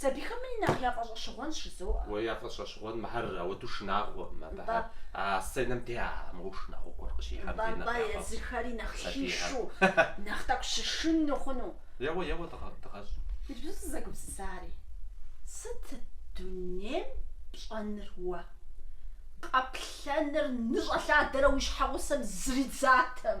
Сабийхэмри нэхъ яфӏэщӏэщыгъуэнщ, жызоӏэ. Уэ яфӏэщӏэщыгъуэн мыхэр ауэду шынагъуэкъым, абы Нтӏэ. а сценэм де а мыгъуэу шынагъуэ гуэр къыщихьэм Нтӏэ, де нэхъ нтӏэ, яфӏэфӏщ езыхэри нэхъ сабийхэр. хишу, нэхъ тӏэкӏу щышынну хъуну. Еуэ, еуэ, дыгъэ, дыгъэщӏ. Иджыпсту сызэгупсысари, сыт дунейм пщӏэныр уэ? Къэплъэныр ныщӏэлъадэрэ уи щхьэгъусэм зридзатэм.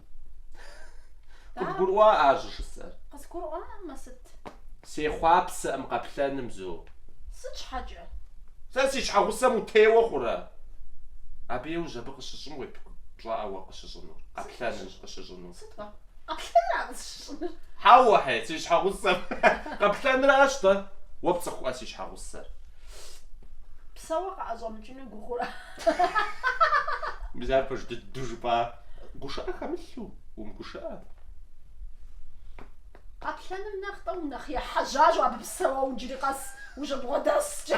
Къыбгурыӏуа ар щӏыжысӏэр? Къысгурыӏуамэ, сыт? Сехъуапсэкъым къэплъэным, Зо. Сыт щхьэкӏэ? Сэ си щхьэгъусэм утеуэ хъурэ? Абы иужь абы къыщыщӏым уеплъкъым, пщӏэӏэ уэ къыщыщӏынур, къэплъэным къыщыщӏынур. Сыт уэ? Къэплъэнра къысщыщӏынур? Хьэуэ-хьей, си щхьэгъусэм къэплъэнращ-тӏэ, уэ пцӏыхуӏэ си щхьэгъусэр. Псэууэ къыӏэщӏэмыкӏыу. Ӏуэхущӏыну уи гугъэрэ? Мис ар пэж дыдэу жыпӏа? Гушыӏэ хэмылъу, умыгушыӏэ. Къэплъэным нэхъ-тӏэ унэхъ ехьэжьащ абы псэууэ иджыри къэс ущыбгъуэдэскӏэ.